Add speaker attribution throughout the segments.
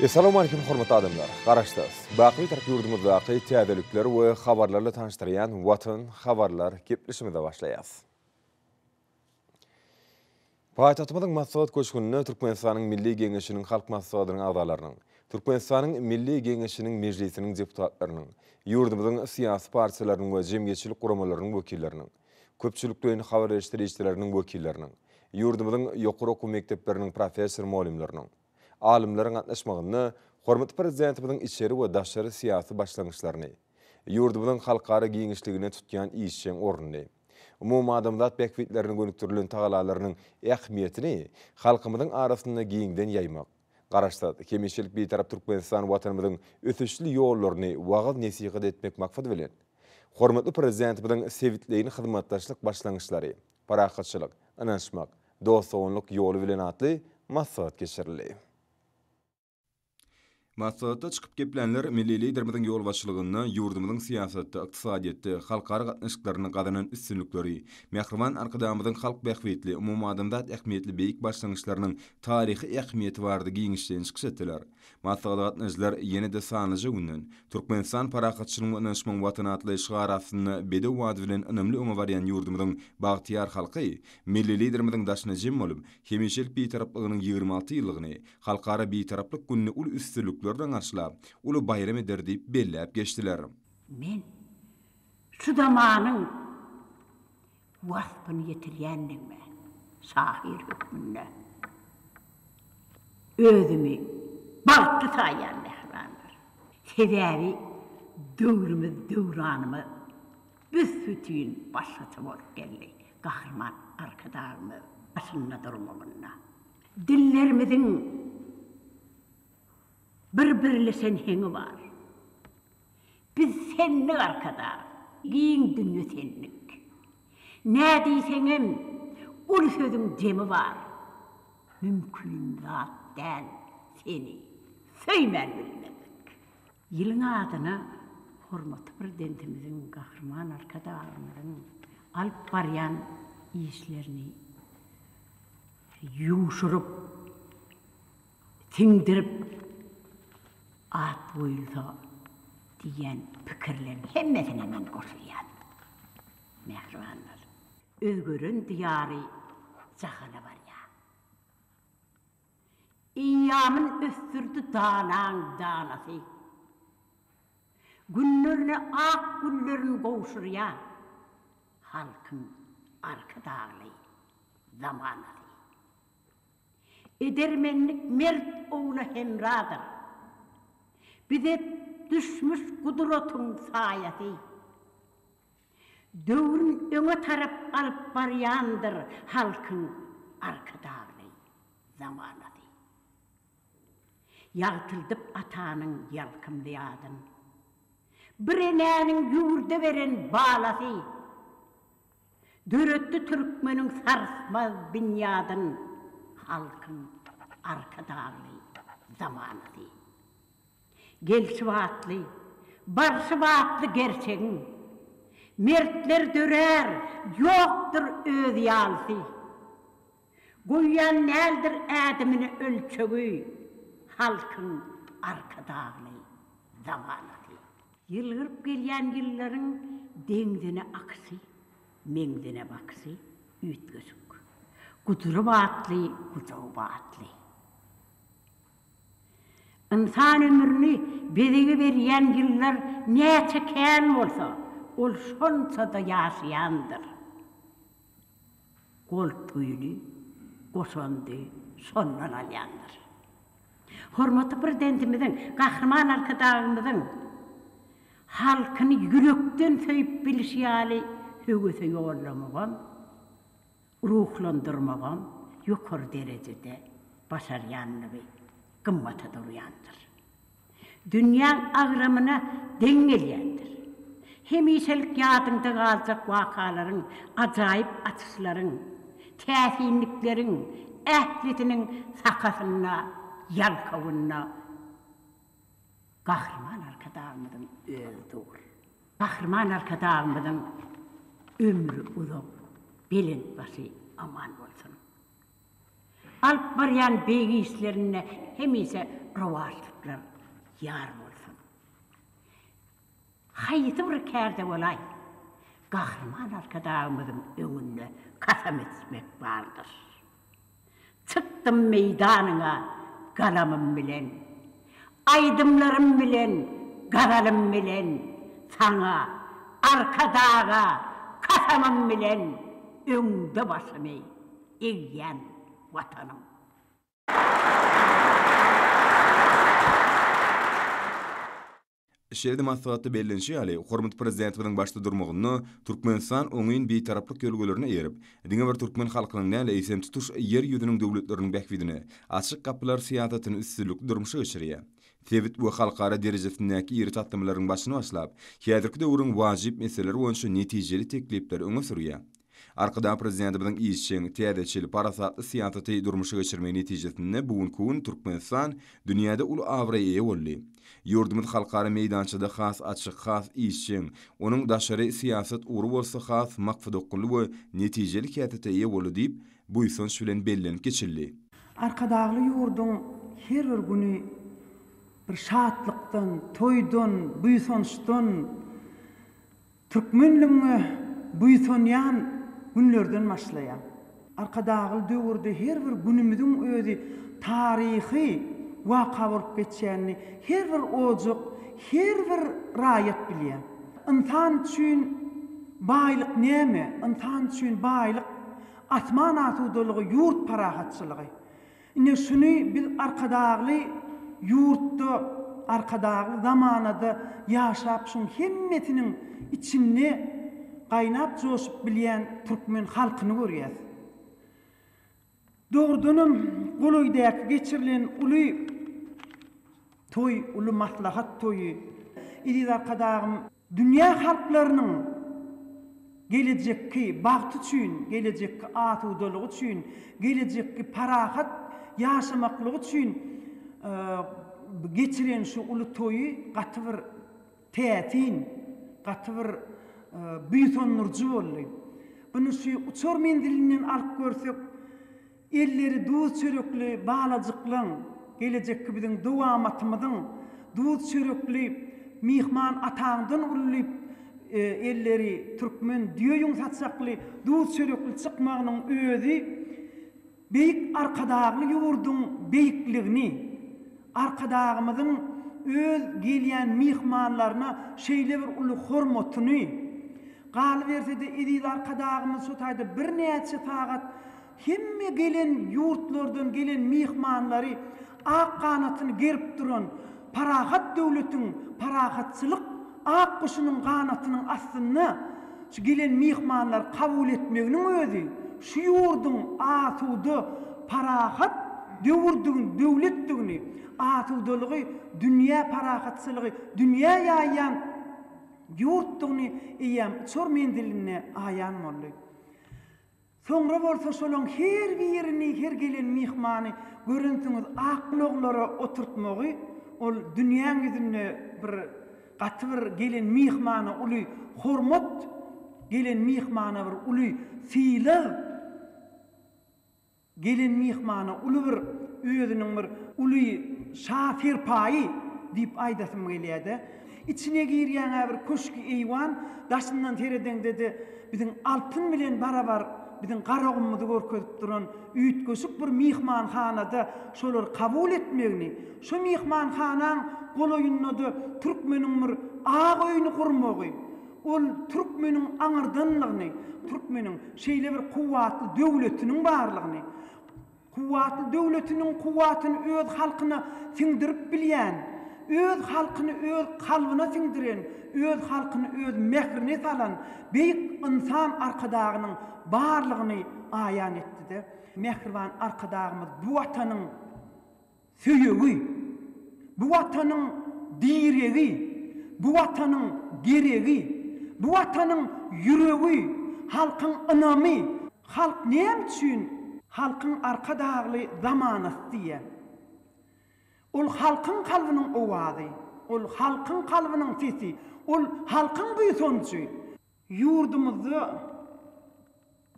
Speaker 1: Essalamu Aleýkum hormatly adamlar! Garaşsyz, baky Türk ýurdumyzdaky täzelikler we habarlarla tanyşdyrýan Watan habarlar gepleşigimize başlaýas. Paýtagtymyzyň Maslahat köşgünde Türkmenistanyň Milli Geňeşiniň Halk Maslahatynyň agzalarynyň, Türkmenistanyň Milli Geňeşiniň Mejlisiniň deputatlarynyň, ýurdumyzyň syýasy partiýalarynyň we jemgyýetçilik guramalarynyň wekilleriniň, köpçülikleýin habar beriş serişdeleriniň wekilleriniň, ýurdumyzyň ýokary okuw mekdepleriniň professor-mugallymlarynyň, alymlaryň gatnaşmagynda hormatly Prezidentimiziň içeri we daşary syýasy başlangyçlaryny, ýurdumyzyň halkara giňişligine tutýan işjeň ornuny, umumadamzat bähbitlerine gönükdirilen tagalalarynyň ähmiýetini halkymyzyň arasynda giňden ýaýmak, Garaşsyz, hemişelik Bitarap Türkmenistan Watanymyzyň ösüşli ýollaryny wagyz-nesihat etmek maksady bilen, hormatly Prezidentimiziň sebitleýin hyzmatdaşlyk başlangyçlary, parahatçylyk, ynanyşmak, dost-doganlyk ýoly bilen atly maslahat geçirildi. Maslahatda çykyp geplänler milli Liderimiziň ýolbaşçylygynda ýurdumyzyň syýasatda, ykdysadyýetde, halkara gatnaşyklarynda gazanan üstünlikleri, Mähriban Arkadagymyzyň halk bähbitli, umumadamzat ähmiýetli beýik başlangyçlarynyň taryhy ähmiýeti barada giňişleýin çykyş etdiler. Maslahata gatnaşyjylar ýene-de sanlyja günden, Türkmenistan parahatçylygyň we ynanyşmagyň Watany atly şygar astynda bedew wady bilen ynamly öňe barýan ýurdumyzyň bagtyýar halky, Milli Liderimiziň daşyna jem bolup, hemişelik Bitaraplygynyň ýigrimi alty ýyllygyny, Halkara Bitaraplyk gününi uly üstünlikler bilen garşylap, uly baýram eder diýip belläp geçdiler. Men
Speaker 2: şu zamanyň waspyny ýetirýänligime şahyr hökmünde özümi bagtly saýýan mähribanlar. Sebäbi döwrümiz, döwranymyz büs-bütin başgaça bolup geldi Gahryman Arkadagymyz başynda durmagynda. Dillerimiziň bir birleşen heňi bar. Biz senlik arkadag, giň dünýe senlik. Nä diýseňem, uly sözüň jemi bar. Mümkin zat däl seni söýmän bilmezlik. Ýylyň adyna hormatly Prezidentimiziň, Gahryman Arkadagymyzyň alyp barýan işlerini ýuwşuryp, siňdirip at goýulsa diýýän pikirleriň hemmesine men goşulýan. Mähribanlar. Özgeren diýary jahana barýa. Eýýamyn ösdürdi danaň danasy. Günlerine ak güllerin gowşurýa halkyň Arkadagly zamanasy. Edermenlik mert ogla hemradyr. Bize düşmüş gudratyň saýasy. Döwrün öňe tarap alyp barýandyr halkyň Arkadagly zamanasy. Ýagtyldyp atanyň ýalkymly adyn. Bir enäniň ýurda beren balasy. Döretdi türkmeniň sarsmaz binýadyn Halkyň Arkadagly zamanasy. Gelşi batly, barşy batly gerçegiň, Mertler dörär, ýokdur öz ýalysy. Goýýan näldir ädimini ölçegi, Halkyň Arkadagly zamanasy. Ýylgyryp gelýän ýyllaryň deňzine aksy, Meňzine baksy, üýtgeşik. Gujuryp atly, gujugyp atly. Ynsan ömrüni bezegi berýän ýyllar näçe kän bolsa, Ol şonça-da ýaşaýandyr. Gold puýuny goşandy şondan alýandyr. Hormatly Prezidentimiziň, Gahryman Arkadagymyzyň halkyny ýürekden söýüp bilişi ýaly höwese ýollamagam, ruhlandyrmagam ýokary derejede başarýandygy gymmata durýandyr. Dünýäň agramyna deň gelýändir. Hemişelik ýadyňda galjak wakalaryň, ajaýyp açyşlaryň, täsinlikleriň ählisiniň sakasynda, ýalkawynda Gahryman Arkadagymyzyň özi dur. Gahryman Arkadagymyzyň ömri uzak, belent başy aman bolsun! Alyp barýan beýik işlerinde hemişe rowaçlyklar ýar bolsun. Haýsy bir kärde bolaý, Gahryman Arkadagymyzyň öňünde kasam içmek bardyr. Çykdym meýdanyňa galamym bilen. Aýdymlarym bilen, gazalym bilen Saňa, Arkadaga, kasamym bilen Öňde başymy egýän Watanym.
Speaker 1: Şeýle-de maslahatda bellenişi ýaly, hormatly Prezidentimiziň başda durmagynda Türkmenistan oňyn Bitaraplyk ýörelgelerine eýerip, diňe bir türkmen halkynyň däl, eýsem, tutuş Ýer ýüzüniň döwletleriniň bähbidine Açyk gapylar syýasatyny üstünlikli durmuşa geçirýär. Sebit we halkara derejesindäki iri taslamalaryň başyny başlap, häzirki döwrüň wajyp meseleleri boýunça netijeli teklipleri öňe sürýär. Arkadag Prezidentimiziň işjeň, täzeçil, parasatly syýasaty durmuşa geçirmegi netijesinde bu günki gün Türkmenistan dünýäde uly abraýa eýe boldy. Ýurdumyz halkara meýdançada has açyk, has işjeň, onuň daşary syýasat ugry bolsa has maksadaokgunly we netijeli häsiýete eýe boldy diýip, buýsanç bilen bellenip geçildi. Arkadagly
Speaker 3: ýurduň her bir güni bir şatlykdan, toýdan, buýsançdan, Türkmenligiňe buýsanýan günlerden başlaýar. Arkadagly döwürde her bir günümiziň özi taryhy waka bolup geçýänini her bir ojak, her bir raýat bilýär. Ynsan üçin baýlyk näme? Ynsan üçin baýlyk, asman asudalygy, ýurt parahatçylygy. Ine şuny biz Arkadagly ýurtda, Arkadagly zamanada ýaşap şuň hemmesiniň içinde gaýnap joşup bilýän türkmen halkyny görýäs. Dogrudanam golaýdaky geçirilen uly toý, uly maslahat toýy, eziz Arkadagym! Dünýä halklarynyň gelejekki bagty üçin, gelejekki asudalygy üçin, gelejekki parahat ýaşamaklygy üçin geçiren şu uly toýy gaty bir täsin, gaty bir buýsandyryjy boldy. Ony şu uçar menzilinden alyp görsek, Elleri duz çörekli balajyklaň, gelejekki biziň dowamatymyzyň duz çörekli myhman ataňdan uly elleri türkmen düýeýüň saçakly duz çörekli çykmagynyň özi beýik Arkadagly ýurduň beýikligini, Arkadagymyzyň öz gelýän myhmanlaryna şeýle bir uly hormatyny, galyberse-de eziz Arkadagymyz şu taýda birnäçe sagat Hemme gelen ýurtlardan gelen myhmanlary ak ganatyny gerip duran parahat döwletiň parahatçylyk ak guşunyň ganatynyň astynda şu gelen myhmanlary kabul etmeginiň özi şu ýurduň asuda, parahat döwürdigini, döwletdigini, asudalygy, dünýä parahatçylygy dünýä ýaýýan ýurtdugyny eýýäm uçar menzilinde aýan boldy. Soňra bolsa şolaň her birini, her gelen myhmany görensiňiz ak ulaglara oturtmagy, ol dünýäň ýüzünde bir gaty bir gelen myhmana uly hormat, gelen myhmana bir uly sylag, gelen myhmana uly bir özüniň bir uly şa-serpaýy diýip aýdasym gelýär-de. Içine girýäň-ä bir köşki eýwan, daşyndan seredeňde-de biziň altyn bilen barabar biziň Garagumymyzy görkezip duran üýtgeşik bir myhmanhanada şolary kabul etmegini, şo myhmanhanaň golaýynda-da türkmeniň bir ak öýüni gurmagy, ol türkmeniň aňyrdanlygyny, türkmeniň şeýle bir kuwwatly döwletiniň barlygyny, Kuwwatly döwletiniň kuwwatyny öz halkyna siňdirip bilýän, öz halkyny öz kalbyna siňdiren, öz halkyny öz mährini salan beýik Ynsan Arkadagynyň barlygyny aýan etdi-de, mähriban Arkadagymyz bu Watanyň, Söýegi, Bu Watanyň diregi, Bu Watanyň geregi, Bu Watanyň ýüregi, Halkyň ynamy, Halk näme üçin Halkyň Arkadagly zamanasy diýýär? Ol halkyň kalbynyň owazy, Ol halkyň kalbynyň sesi, Ol halkyň buýsanjy. Ýurdumyzda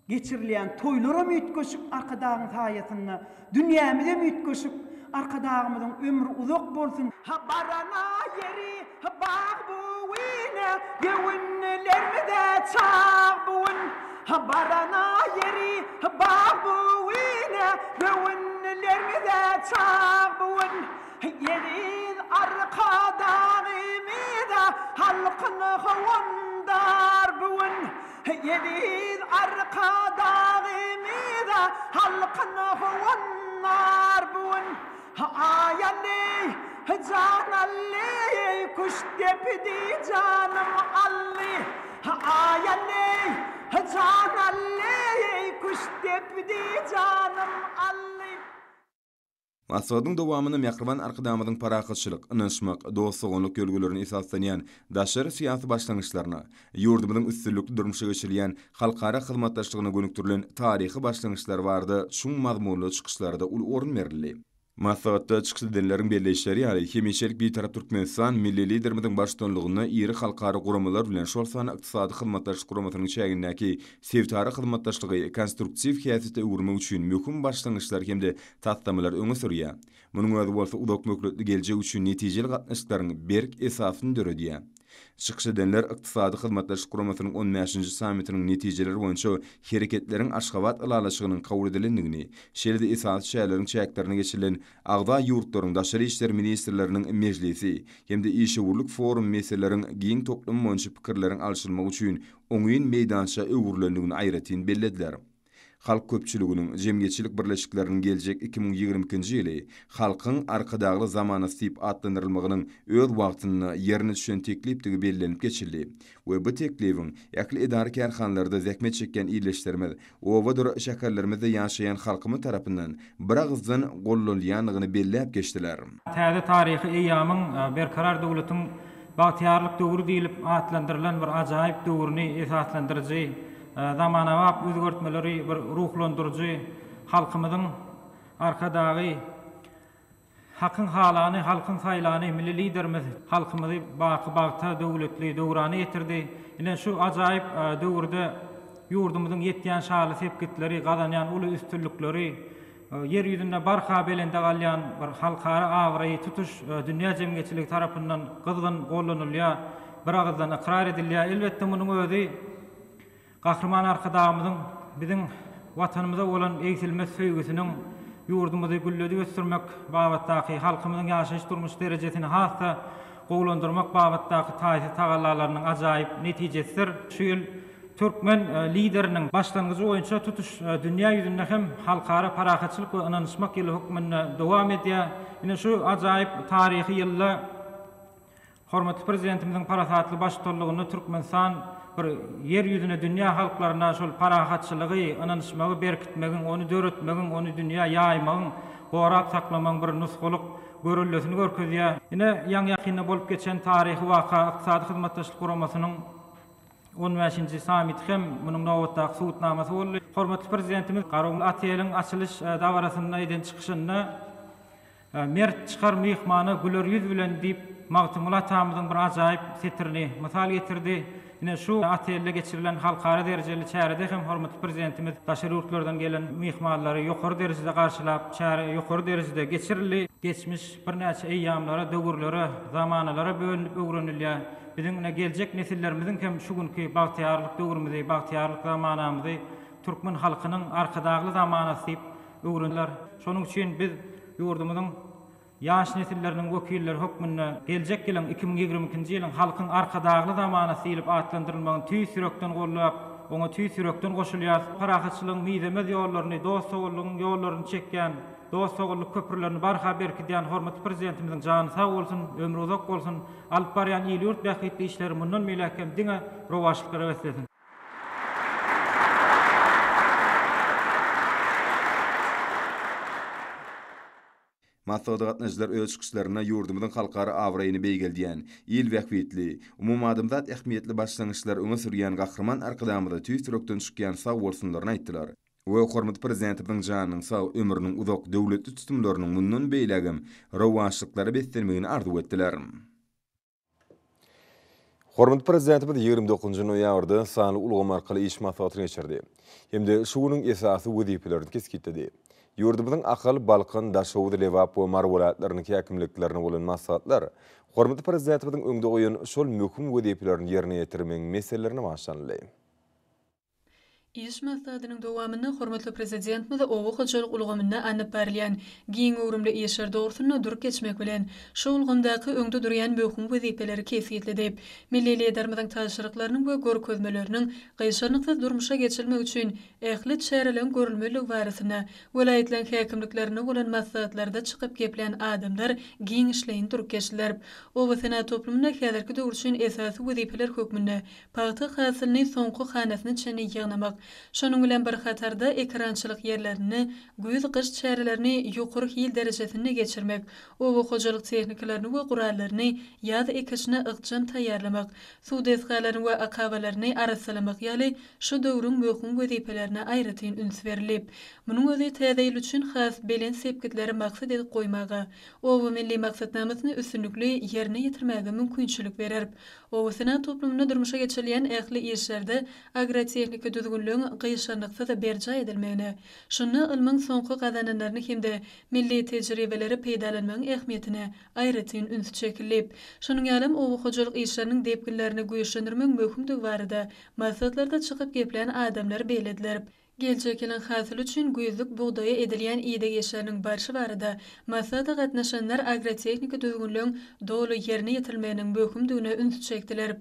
Speaker 3: geçirilýän toýlaram üýtgeşik Arkadagyň saýasynda, dünýämizem üýtgeşik Arkadagymyzyň ömri uzak bolsun, Hy barana ýeri hy bag bu gün, Göwünlerimize çag bu gün. Hy barana ýeri hy bag bu gün, Göwünlerimize çag bu gün. Eziz Arkadagymyza halkyn howandar bu gün. Eziz Arkadagymyza halkyn howandar bu gün. Aý Aly, Jan Aly, kuş depdi janym Aly. Aý Aly, Jan Aly, kuş depdi janym Aly.
Speaker 1: Maslahatyň dowamynda Mähriban Arkadagymyzyň parahatçylyk, ynanyşmak, dost-doganlyk ýörelgelerine esaslanýan daşary syýasy başlangyçlaryna, ýurdumyzyň üstünlikli durmuşa geçirýän halkara hyzmatdaşlygyna gönükdirilen taryhy başlangyçlary barada çuň mazmunly çykyşlara-da uly orun berildi. Maslahatda çykyş edenleriň belleýişleri ýaly, hemişelik Bitarap Türkmenistan milli Liderimiziň baştutanlygynda iri halkara guramalar bilen, şol sanda Ykdysady Hyzmatdaşlyk Guramasynyň çägindäki Sebitara hyzmatdaşlygy konstruktiw häsiýete öwürmek üçin möhüm başlangyçlary hem-de taslamalary öňe sürýär. Munuň özi bolsa uzakmöhletli geljek üçin netijeli gatnaşyklaryň berk esasyny döredýär. Çykyş edenler Ykdysady Hyzmatdaşlyk Guramasynyň on bäşinji sammitiniň netijeleri boýunça Hereketleriň Aşgabat ylalaşygynyň kabul edilendigini, şeýle-de esasy şäherleriň çäklerinde geçirilen agza ýurtlaryň daşary işler ministrleriniň mejlisi hem-de işewürlik forum meseleleriň giň toplumy boýunça pikirleriň alşylmagy üçin oňyn meýdança öwrülendigini aýratyn bellediler. Halk köpçüliginiň, jemgyýetçilik birleşikleriniň geljek iki müň ýigrimi ikinji ýyly Halkyň Arkadagly zamanasy diýip atlandyrylmagynyň öz wagtynda ýerine düşen teklipdigi bellenip geçildi we bu teklibiň ähli edara-kärhanalarda zähmet çekýän ildeşlerimiz obadyr şäherlerimizde ýaşaýan halkymyz tarapyndan biragyzdan gollanylýandygyny belläp geçdiler. Täze taryhy
Speaker 4: eýýamyň Berkarar döwletiň bagtyýarlyk döwri diýlip atlandyrylan bir ajaýyp döwrüni esaslandyryjy, zamanabap özgertmeleri bir ruhlandyryjy halkymyzyň Arkadagy, Hakyň halany, halkyň saýlany Milli Liderimiz halkymyzy baky bagta, döwletli döwrana ýetirdi. Ine, şu ajaýyp döwürde ýurdumyzyň ýetýän şanly sepgitleri, gazanýan uly üstünlikleri, Ýer ýüzünde barha belende galýan bir halkara abraýy tutuş dünýä jemgyýetçiligi tarapyndan gyzgyn gollanylýar, biragyzdan ykrar edilýär. Elbetde, munuň özi Gahryman Arkadagymyzyň biziň Watanymyza bolan egsilmez söýgüsiniň ýurdumyzy gülledip ösdürmek babatdaky, halkymyzyň ýaşaýyş-durmuş derejesini has-da gowulandyrmak babatdaky taýsyz tagallalarynyň ajaýyp netijesidir. Şu ýyl türkmen Lideriniň başlangyjy boýunça tutuş dünýä ýüzünde hem Halkara parahatçylyk we ynanyşmak ýyly hökmünde dowam edýär. Ine, şu ajaýyp taryhy ýylda Hormatly Prezidentimiziň parasatly baştutanlygynda Türkmenistan bir Ýer ýüzüne dünýä halklaryna şol parahatçylygy, ynanyşmagy berkitmegiň, ony döretmegiň, ony dünýä ýaýmagyň, gorap saklamagyň bir nusgalyk göreldesini görkezýär. Ine, ýaňy-ýakynda bolup geçen taryhy waka Ykdysady Hyzmatdaşlyk Guramasynyň on bäşinji sammiti hem munuň nobatdaky subutnamasy boldy. Hormatly Prezidentimiz Garun Ateliň açylyş dabarasynda eden çykyşynda, Mert çykar myhmana güler ýüz bilen diýip, Magtymguly atamyzyň bir ajaýyp setirini mysal getirdi. Ine, şu otelde geçirilen halkara derejeli çärede hem hormatly Prezidentimiz daşary ýurtlardan gelen myhmanlary ýokary derejede garşylap, çäre ýokary derejede geçirildi. Geçmiş birnäçe eýýamlara, döwürlere, zamanalara bölünip öwrenilýär. Biziň ine, geljek nesillerimiziň hem şu günki bagtyýarlyk döwrümizi, bagtyýarlyk zamanamyzy Türkmen halkynyň Arkadagly zamanasy diýip öwreniler. Şonuň üçin biz ýurdumyzyň ýaş nesilleriniň wekilleri hökmünde geljek ýylyň iki müň ýigrimi ikinji ýylyň Halkyň Arkadagly zamanasy diýlip atlandyrylmagyny tüýs ýürekden goldap, oňa tüýs ýürekden goşulýarys. Parahatçylygyň mizemez ýollaryny, dost-doganlygyň ýollaryny çekýän, dost-doganlyk köprülerini barha berkidýän hormatly Prezidentimiziň jany sag bolsun, ömri uzak bolsun, alyp barýan il-ýurt bähbitli işleri mundan beýläk hem diňe rowaçlyklara beslesin!
Speaker 1: Maslahata gatnaşyjylar öz çykyşlarynda ýurdumyzyň halkara abraýyny beýgeldýän, il bähbitli, umumadamzat ähmiýetli başlangyçlary öňe sürýän Gahryman Arkadagymyza tüýs ýürekden çykýan sagbolsunlaryny aýtdylar we hormatly Prezidentimiziň janynyň sag, ömrüniň uzak, döwletli tutumlarynyň mundan beýlägem rowaçlyklara beslenmegini arzuw etdiler. Hormatly Prezidentimiz ýigrimi dokuzynjy noýabrda sanly ulgam arkaly iş maslahatyny geçirdi hem-de şu günüň esasy wezipelerini kesgitledi. Ýurdumyzyň Ahal, Balkan, Daşoguz, Lebap we Mary welaýatlarynyň häkimliklerine bolan maslahatlar hormatly Prezidentimiziň öňde goýan şol möhüm wezipelerini ýerine ýetirmegiň meselelerine bagyşlanyldy.
Speaker 5: Iş maslahatynyň dowamynda hormatly Prezidentimiz oba hojalyk ulgamynda alnyp barylýan giň göwrümli işler dogrusynda durup geçmek bilen, şu ulgamdaky öňde durýan möhüm wezipeleri kesgitledi. Milli Liderimiziň tabşyryklarynyň we görkezmeleriniň gyşarnyksyz durmuşa geçirilmegi üçin ähli çäreleriň görülmelidigi barasynda welaýatlaryň häkimliklerinde bolan maslahatlarda çykyp geplän adamlar giňişleýin durup geçdiler. Obasenagat toplumynda häzirki döwür üçin esasy wezipeler hökmünde Pagta hasylyny soňky hanasyna çenli ýygnamak, şonuň bilen bir hatarda ekerançylyk ýerlerinde güýz-gyş çärelerini ýokary hil derejesinde geçirmek, oba hojalyk tehnikalaryny we gurallaryny ýaz ekişine ykjam taýýarlamak, suw desgalaryny we akabalaryny arassalamak ýaly şu döwrüň möhüm wezipelerine aýratyn üns berilip, munuň özi täze ýyl üçin has belent sepgitleri maksat edip goýmaga, Oba milli maksatnamasyny üstünlikli ýerine ýetirmäge mümkinçilik berer. Obasenagat toplumynda durmuşa geçirilýän ähli işlerde agrotehniki düzgünligiň gyşarnyksyz berjaý edilmegine, şunda ylmyň soňky gazananlaryny hem-de milli tejribeleri peýdalanmagyň ähmiýetine aýratyn üns çekildi. Şonuň ýalam, oba hojalyk işleriniň depginlerini güýçlendirmegiň möhümdigi barada maslahatlarda çykyp geplän adamlar bellediler. Geljek ýylyň hasyly üçin güýzlük bugdaýa edilýän ideg işleriniň barşy barada maslahata gatnaşanlar agrotehniki düzgünleň doly ýerine ýetirilmeginiň möhümdigine ünsi çekdiler.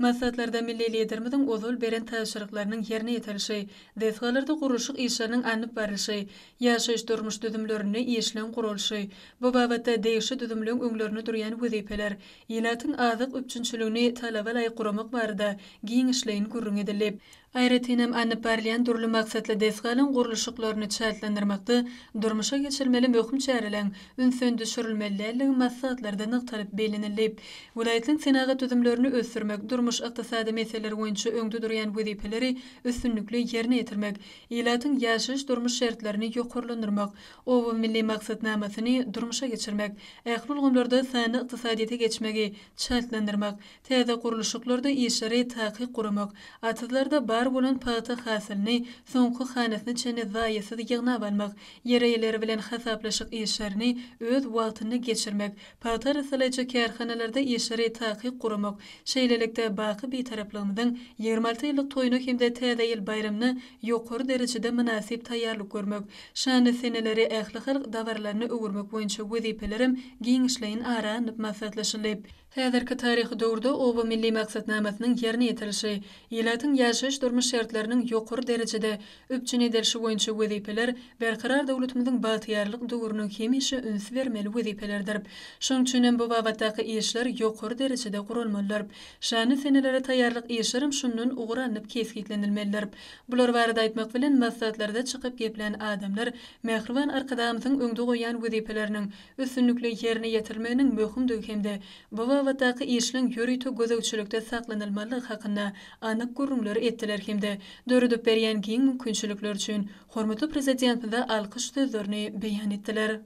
Speaker 5: Maslahatlarda milli Liderimiziň ozal beren tabşyryklarynyň ýerine ýetirilişi, desgalarda gurluşyk işleriniň alnyp barlyşy, ýaşaýyş-durmuş düzümlerinde işleň guralyşy, bu babatda degişli düzümleň öňlerinde durýan wezipeler, ilatyň azyk üpjünçiligini talaba laýyk guramak barada giňişleýin gürrüň edildi. Aýratyn hem, alnyp barylýan dürli maksatly desgalaryň gurluşyklaryny çaltlandyrmakda durmuşa geçirilmeli möhüm çäreleriň ünsden düşürilmeli däldigi maslahatlarda nygtalyp bellenildi. Welaýatlaryň senagat düzümlerini ösdürmek, durmuş-ykdysady meseleler boýunça öňde durýan wezipeleri üstünlikli ýerine ýetirmek, ilatyň ýaşaýyş-durmuş şertlerini ýokarlandyrmak, Oba milli maksatnamasyny durmuşa geçirmek, ähli ulgamlarda sanly ykdysadyýete geçmegi çaltlandyrmak, Täze gurluşyklarda işleri takyk guramak, atyzlarda bar bolan pagta hasylyny soňky hanasyna çenli zaýasyz ýygnap almak, ýer eýeleri bilen hasaplaşyk işlerini öz wagtynda geçirmek, pagta arassalaýjy kärhanalarda işleri takyk guramak, şeýlelikde, baky Bitaraplygymyzyň ýigrimi alty ýyllyk toýuna hem-de Täze ýyl baýramyna ýokary derejede mynasyp taýýarlyk görmek, şanly seneleri ählihalk dabaralaryna öwürmek boýunça wezipelerem giňişleýin ara alnyp maslahatlaşyldy. Häzirki taryhy döwürde Oba milli maksatnamasynyň ýerine ýetirilişi, ilatyň ýaşaýyş-durmuş şertleriniň ýokary derejede üpjün edilişi boýunça wezipeler Berkarar döwletimiziň bagtyýarlyk döwrüniň hemişe üns bermeli wezipelerdir. Şonuň üçin hem bu babatdaky işler ýokary derejede guralmalydyr. Şanly senelere taýýarlyk işler hem şundan ugur alnyp kesgitlenilmelidir. Bular barada aýtmak bilen, maslahatlarda çykyp geplän adamlar Mähriban Arkadagymyzyň öňde goýýan wezipeleriniň üstünlikli ýerine ýetirilmeginiň möhümdigi hem-de bu babatdaky işleň ýörite gözegçilikde saklanylmalydygy hakynda anyk gürrüňleri etdiler hem-de döredip berýän giň mümkinçilikler üçin hormatly Prezidentimize alkyş sözlerini beýan etdiler.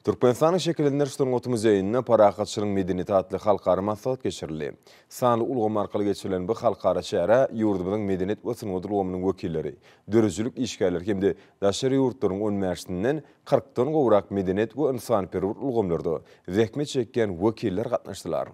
Speaker 1: Türkmenistanyň Şekillendiriş sungaty muzeýinde Parahatçylygyň medeniýeti atly halkara maslahat geçirildi. Sanly ulgam arkaly geçirilen bu halkara çärä ýurdumyzyň medeniýet we sungat ulgamynyň wekilleri, döredijilik işgärleri hem-de daşary ýurtlaryň on bäşinden kyrkdan gowrak medeniýet we ynsanperwer ulgamlarda zähmet çekýän wekiller gatnaşdylar.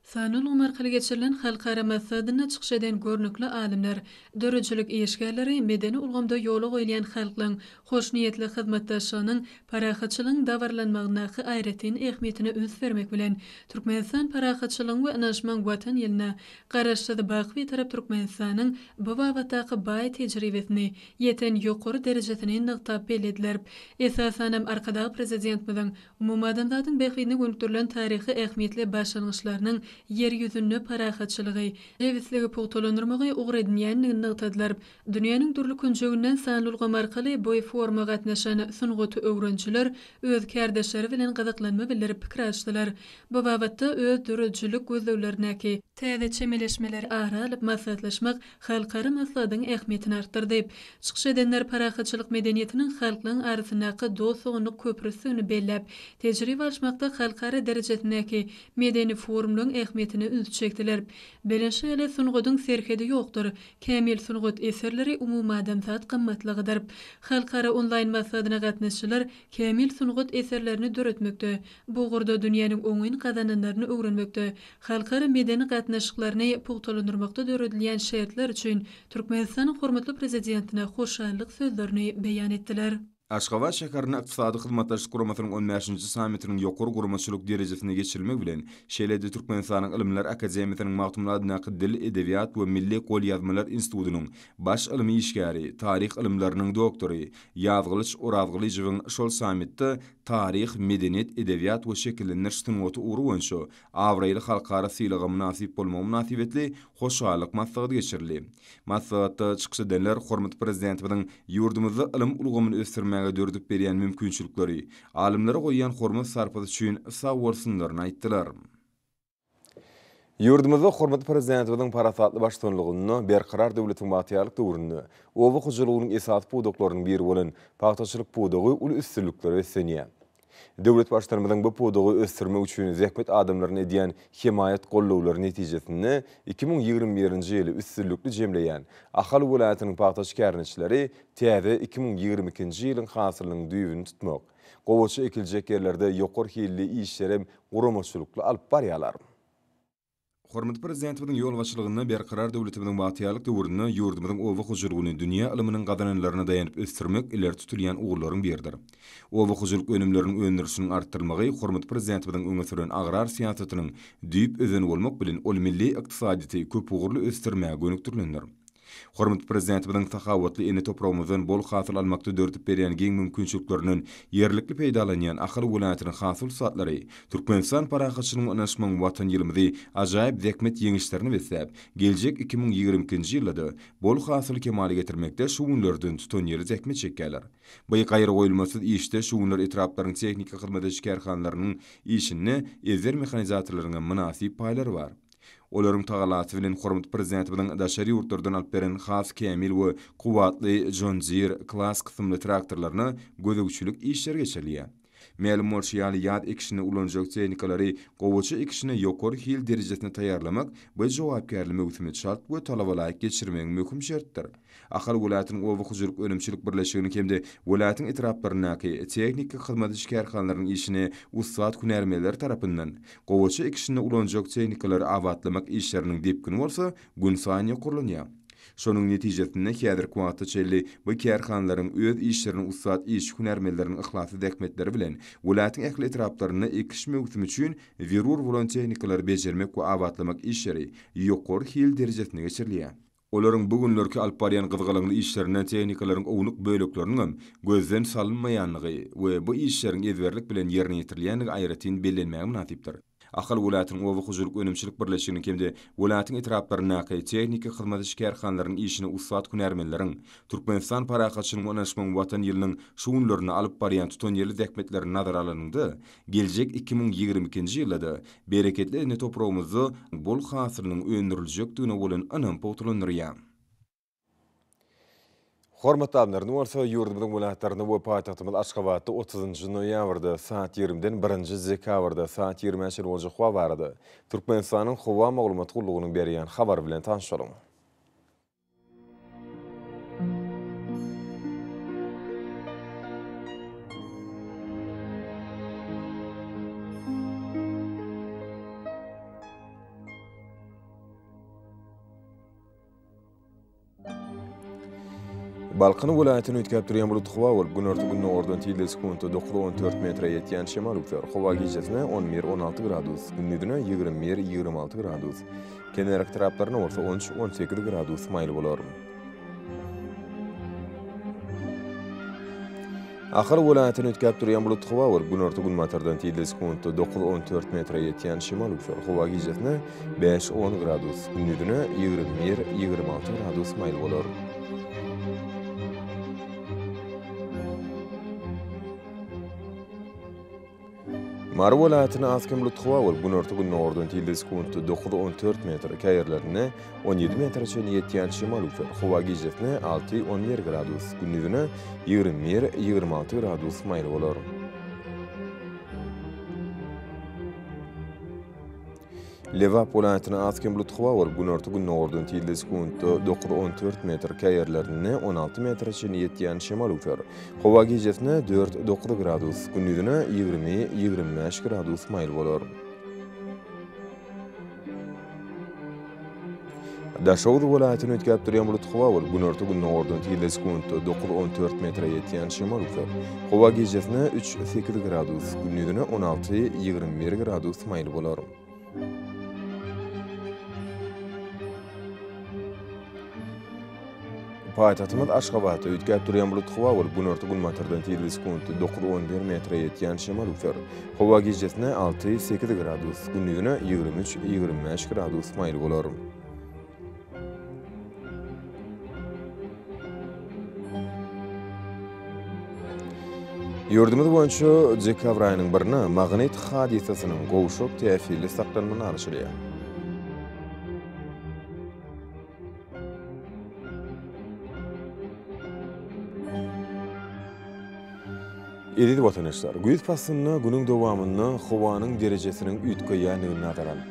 Speaker 1: Sanly
Speaker 5: ulgam arkaly geçirilen halkara maslahatynda çykyş eden görnükli alymlar, döredijilik işgärleri medeni ulgamda ýola goýulýan halklaryň hoşniýetli hyzmatdaşlygynyň parahatçylygyň dabaralanmagyndaky aýratyn ähmiýetine üns bermek bilen, Türkmenistan parahatçylygyň we ynanyşmagyň Watan ýylyna Garaşsyz, baky Bitarap Türkmenistanyň bu babatdaky baý tejribesini, ýeten ýokary derejesini nygtap bellediler. Esasanam, Arkadag Prezidentimiziň umumadamzadyň bähbidine gönükdirilen taryhy ähmiýetli başlangyçlarynyň Ýer ýüzünde parahatçylygy, jebisligi pugtalandyrmagy ugur edinýändigini nygtadylar. Dünýäniň dürli künjeginden sanly ulgam arkaly bu foruma gatnaşan sungaty öwrenijiler öz kärdeşleri bilen gyzyklanma bildirip pikir alyşdylar. Bu babatda öz döredijilik gözleglerindäki. Täze çemeleşmeleri ara alyp maslahatlaşmak halkara maslahatyň ähmiýetini artdyrdy. Çykyş edenler parahatçylyk medeniýetiniň halklaň arasyndaky dost-doganlyk köprüsidigini belläp, tejribe alyşmakda halkara derejesindäki medeni forumlaryň ähmiýetine ünsi çekdiler. Belent şaýaly sungatyň serhedi ýokdur, Kämil sungat eserleri umumadamzat gymmatlygydyr. Halkara onlaýn maslahatyna gatnaşyjylar kämil sungat eserlerini döretmekde, bu ugurda dünýäniň oňyn gazananlaryny öwrenmekde, halkara medeni gatnaşyklaryny pugtalandyrmakda döredilýän şertler üçin Türkmenistanyň hormatly Prezidentine hoşallyk sözlerini beýan etdiler. Aşgabat şäherinde
Speaker 1: Ykdysady Hyzmatdaşlyk Guramasynyň on bäşinji sammitiniň ýokary guramaçylyk derejesinde geçirilmegi bilen, şeýle-de Türkmenistanyň Ylymlar akademiýasynyň Magtymguly adyndaky Dil, edebiýat we milli golýazmalar institutynyň baş ylmy işgäri, taryh ylymlarynyň doktory Ýazgylyç Orazgylyjowyň şol sammitde Taryh, medeniýet, edebiýat we şekillendiriş sungaty ugry boýunça abraýly halkara sylaga mynasyp bolmagy mynasybetli hoşallyk maslahaty geçirildi. Maslahatda çykyş edenler hormatly Prezidentimiziň ýurdumyzda ylym ulgamyny ösdürmäge döredip berýän mümkinçilikleri, alymlara goýýan hormat-sarpasy üçin sagbolsunlaryny aýtdylar. Ýurdumyzda hormatly Prezidentimiziň parasatly baştutanlygynda Berkarar döwletiň bagtyýarlyk döwründe oba hojalygynyň esasy pudaklarynyň biri bolan pagtaçylyk pudagy uly üstünliklere beslenýär. Döwlet Baştutanymyzyň bu pudagy ösdürmek üçin zähmet adamlaryna edýän hemaýat-gollawlary netijesinde iki müň ýigrimi birinji ýyly üstünlikli jemleýän Ahal welaýatynyň pagta şikäriniçileri täze iki müň ýigrimi ikinji ýylyň hasylynyň düýbüni tutmak, gowaça ekiljek ýerlerde ýokary hilli işlerem guramaçylykly alyp barýarlar. Hormatly Prezidentimiziň ýolbaşçylygynda Berkarar döwletimiziň bagtyýarlyk döwründe ýurdumyzyň oba hojalygyny dünýä ylmynyň gazananlaryna daýanyp ösdürmek ileri tutulýan ugurlaryň biridir. Oba hojalyk önümleriniň öndürilişiniň artdyrylmagy hormatly Prezidentimiziň öňe süren agrar syýasatynyň düýp özeni bolmak bilen, ol milli ykdysadyýeti köpugurly ösdürmäge gönükdirilendir. Hormatly Prezidentimiziň sahawatly ene topragymyzdan bol hasyl almakda döredip berýän giň mümkinçiliklerinden ýerlikli peýdalanýan Ahal welaýatynyň has ussatlyry Türkmenistan parahatçylygyň ynaşmagyň Watan ýylymyzy ajaýyp zähmet ýeňişlerine besläp, geljek iki müň ýigrimi ikinji ýylda-da bol hasyly kemala getirmekde şu günlerden tutanýerli zähmet çekýärler. By gaýragoýulmasyz işde şu günler etraplaryň tehniki hyzmat ediş kärhanalarynyň işinde ezber mehanizatorlaryňam mynasyp paýlary bar. Olaryň tagalasy bilen hormatly Prezidentimiziň daşary ýurtlardan alyp beren has kämil we kuwwatly John Deere Class kysymly traktorlaryna gözegçilik işleri geçirilýär. Mälim bolşy ýaly, ýaz ekişinde ulanjak tehnikalary gowaça ekişine ýokary hil derejesinde taýýarlamak we jogapkärli möwsümi çalt we talabalaýyk geçirmegiň möhüm şertdir. Ahal welaýatynyň oba hojalyk önümçilik birleşiginiň hem-de welaýatyň etraplaryndaky tehniki hyzmat ediş kärhanalarynyň işini ussat hünärmenleri tarapyndan, gowaça ekişinde ulanjak tehnikalary abatlamak işleriniň depgini bolsa gün saýyn ýokarlanýar. Şonuň netijesinde häzirki wagta çenli bu kärhanalaryň öz işlerini ussat işçi-hünärmenleriniň yhlasly zähmetleri bilen welaýatyň ähli etraplarynda ekiş möwsümi üçin zerur bolan tehnikalary bejermek we abatlamak işleri ýokary hil derejesinde geçirilýär. Olaryň bu günlerki alyp barýan gyzgalaňly işlerinden tehnikalaryň ownuk bölekleriniňem gözden salynmaýandygy we bu işleriň ezberlik bilen ýerine ýetirilýändigi aýratyn bellenmäge mynasypdyr. Ahal welaýatynyň oba hojalyk önümçilik birleşiginiň hem-de welaýatyň etraplaryndaky tehniki hyzmat iş kärhanalarynyň işini ussat hünärmenleriň Türkmenistan parahatçylygyň we ynanyşmagyň Watan ýylynyň şu günlerinde alyp barýan tutanýerli zähmetleri nazara alanyňda Geljek iki müň ýigrimi ikinji ýylda-da bereketli ene topragymyzda bol hasylynyň öndüriljekdigine bolan ynam pugtalandyrýar. Hormatly alymlar, indi bolsa ýurdumyzyň welaýatlarynda we paýtagtymyz Aşgabatda otuzynjy noýabrda saat ýigrimiden birinji dekabrda saat ýigrimä çenli boljak howa barada Türkmenistanyň Howa maglumat gullugynyň berýän habary bilen tanyşalyň. Balkan welaýatyny üýtgäp durýan bulutly howa bolup, günorta-gündogardan tizligi sekuntda dokuz, on dört metre ýetýän şemal üflär. Howa gijesine on bir, on alty gradus, gündizine ýigrimi bir, ýigrimi alty gradus. Kenar etraplaryna bolsa on üç, on sekiz gradus maýyl bolar. Ahal welaýatyny üýtgäp durýan bulut howa we günorta-günbatardan tizligi sekuntda dokuz, on dört metre ýetýän şemal-üsgür howa gijesine bäş, on gradus, gündizine ýigrimi bir, ýigrimi alty gradus maýyl bolar. Mary welaýatyna az kem lutgawa bolup, günorta-gündogardan tilde sekuntda dokuz, on dört metr, käýerlerinde on ýedi metre çenli ýetýän şemal üwser. Howa gijesine alty, on bir gradus, gündizine ýigrimi bir, ýigrimi alty gradus maýyl bolar. Lebap welaýatyna az kem bulut howa bolup, günorta-gündogardan tizligi sekuntda dokuz, on dört metr, käý ýerlerinde on alty metre çenli ýetýän şemal öwser. Howa gijesine dört, dokuz gradus, gündiziňe ýigrimi, ýigrimi bäş gradus maýyl bolar. Daşoguz welaýatyny üýtgäp durýan bulutly howa bolup, günorta-gündogardan tizligi sekuntda dokuz-on dört metre ýetýän şemal üflär. Howa gijesine üç, sekiz gradus, gündizine on alty, ýigrimi bir gradus maýyl bolar. Paýtagtymyz Aşgabatda üýtgäp durýan bulutly howa bolup, günorta-günbatardan tirli sekuntda dokuz on bir metre ýetýän şemal öwser. Howa gijesine alty sekiz gradus, gündizine ýigrimi üç ýigrimi bäş gradus maýyl bolar. Ýurdumyz boýunça dekabr aýynyň birine magnit hadysasynyň gowşak täsirli saklanmagyny garaşylýar. Eziz watandaşlar, güýz paslynda günüň dowamynda howanyň derejesiniň üýtgeýändigini nazara alyp,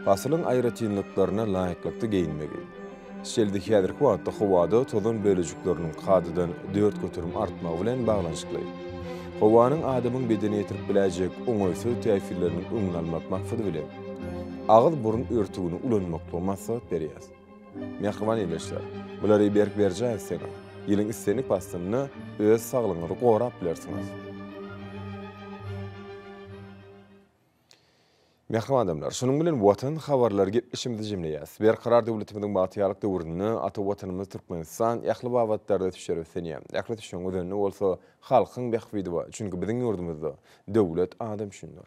Speaker 1: pasylyň aýratynlyklaryna laýyklykda geýinmegi, şeýle-de häzirki wagtda howada tozan bölejikleriniň kadadan dört göterim artmagy bilen baglanyşykly, howanyň adamyň bedene ýetirip biläýjek oňaýsyz täsirleriniň öňüni almak maksady bilen, Agyz-burun örtügini ulanmaklygy maslahat berýäs. Mähriban ildeşler, bulary berk berjaý etseňiz, ýylyň islendik paslynda öz saglygyňyzy gorap bilersiňiz. Mähriban adamlar, şunuň bilen Watan habarlary gepleşigimizi jemleýäs. Berkarar döwletimiziň bagtyýarlyk döwründe ata Watanymyz Türkmenistan ähli babatlarda düşer ösenýär. Ähli düşeň özende bolsa halkyň bähbidi bar, çünki biziň ýurdumyzda döwlet adam üçindir.